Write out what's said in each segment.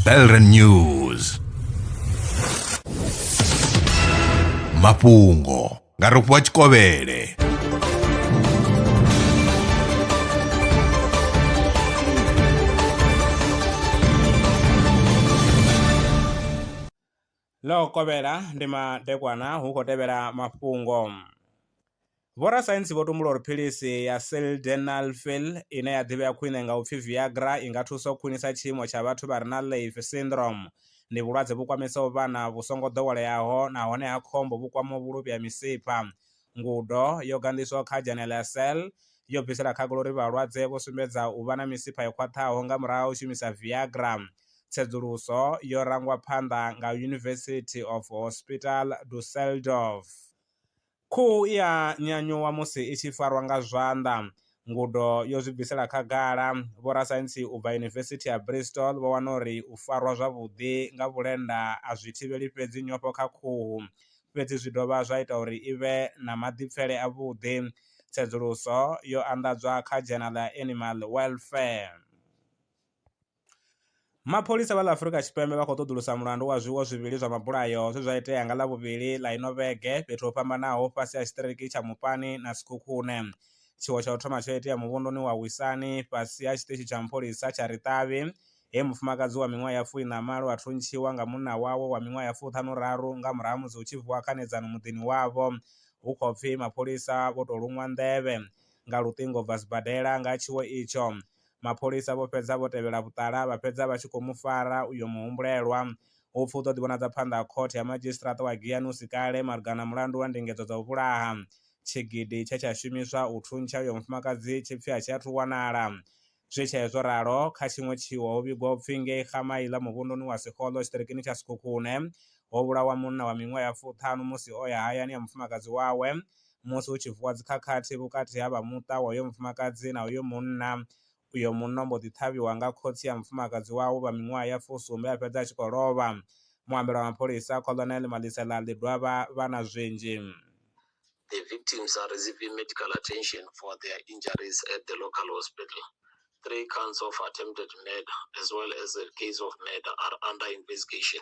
Belren News mafhungo nga rofhiwa tshikovhele Ḽo kovhela ndi madekwana hu khou tevhela mafhungo. Vhorasaintsi vho tumbula uri philisi ya sildenafil ine ya ḓivhea khwine nga u pfi Viagra i nga thusa u khwinisa tshiimo tsha vhathu vha re na Leif syndrome. Ndi vhulwadze vhu kwamesaho vhana vhu songo ḓoweleaho nahone ha khombo vhu kwamaho vhuluvhi ha misipha. Ngudo yo ganḓiswaho kha dzhene ḽa Cell yo bvisela khagala uri vhalwadze vho sumbedza u vha na misipha yo khwaṱhaho nga murahu ha u shumisa Viagra. Tsedzuluso yo rangwa phanḓa nga University of Hospital Dusseldorf. Khuhu i a nyanyuwa musi i tshi farwa nga zwanḓa. Ngudo yo zwi bvisela khagala. Vhorasaintsi u bva Yunivesithi ya Bristol vho wana uri u farwa zwavhuḓi nga vhulenda a zwi thivheli fhedzi nyofho kha khuhu, fhedzi zwi dovha zwa ita uri i vhe na maḓipfele avhuḓi. Tsedzuluso yo anḓadzwa kha dzhenala ya Animal Welfare. Mapholisa vha ḽa Afrika Tshipembe vha khou ṱoḓulusa mulandu wa zwiwo zwivhili zwa mabulayo zwe zwa itea nga Ḽavhuvhili ḽa ino vhege fhethu ho fhambanaho fhasi ha tshiṱiriki tsha Mopani na Sekhukhune. Tshiwo tsha u thoma tsho itea muvhunduni wa Wisani fhasi ha tshiṱitshi tsha mpholisa tsha Ritavi, he mufumakadzi wa miṅwaha ya fu iṋa malo a thuntshiwa nga munna wawe wa miṅwaha ya fuṱhanu raru nga murahu ha musi hu tshi vuwa khanedzano muḓini wavho hu khou pfi mapholisa vho tou luṅwa nḓevhe nga luṱingo u bva sibadela nga ha tshiwo itsho. Mapholisa vho fhedza vho tevhela vhuṱala vha fhedza vha tshi khou mu fara uyo muhumbulelwa. Hu pfi u ḓo ḓivhonadza phanḓa ha Khothe ya Madzhisiṱiraṱa wa Giyani hu si kale malugana na mulandu wa ndingedzo dza u vhulaha. Tshigidi tshe tsha shumiswa u thuntsha uyo mufumakadzi tshi pfi a tshi athu wanala. Zwi tshee zwo ralo, kha tshiṅwe tshiwo ho vhigwa u pfi ngei Gamaila muvhunduni wa Sekgolo tshiṱirikini tsha Sekhukhune ho vhulawa munna wa miṅwaha ya fuṱhanu musi o ya hayani ya mufumakadzi wawe musi hu tshi vuwa dzi khakhathi vhukati ha vha muṱa wa uyo mufumakadzi na uyo munna, uyo munna o mbo ḓi ṱhavhiwa nga khotsi ya mufumakadzi wawe vha miṅwaha ya fusumbe a fhedza a tshi khou lovha. Muambeli wa mapholisa Colonel Malisela Ḽidwaba vha na zwinzhi. The victims are receiving medical attention for their injuries at the local hospital. Three counts of attempted murder as well as a case of murder are under investigation.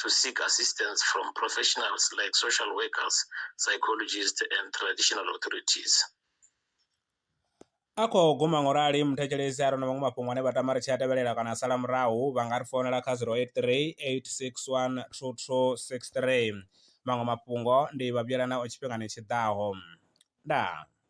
to seek assistance from professionals like social workers, psychologists, and traditional authorities. a khou guma ngo rali muthetshelesi a re na vhaṅwe mafhungo ane vha tama ri tshi a tevhelela kana a sala murahu vha nga ri founela kha 083 861 2263 maṅwe mafhungo ndi vha vhuyelana o tshifhingani tshi ḓaho ndaa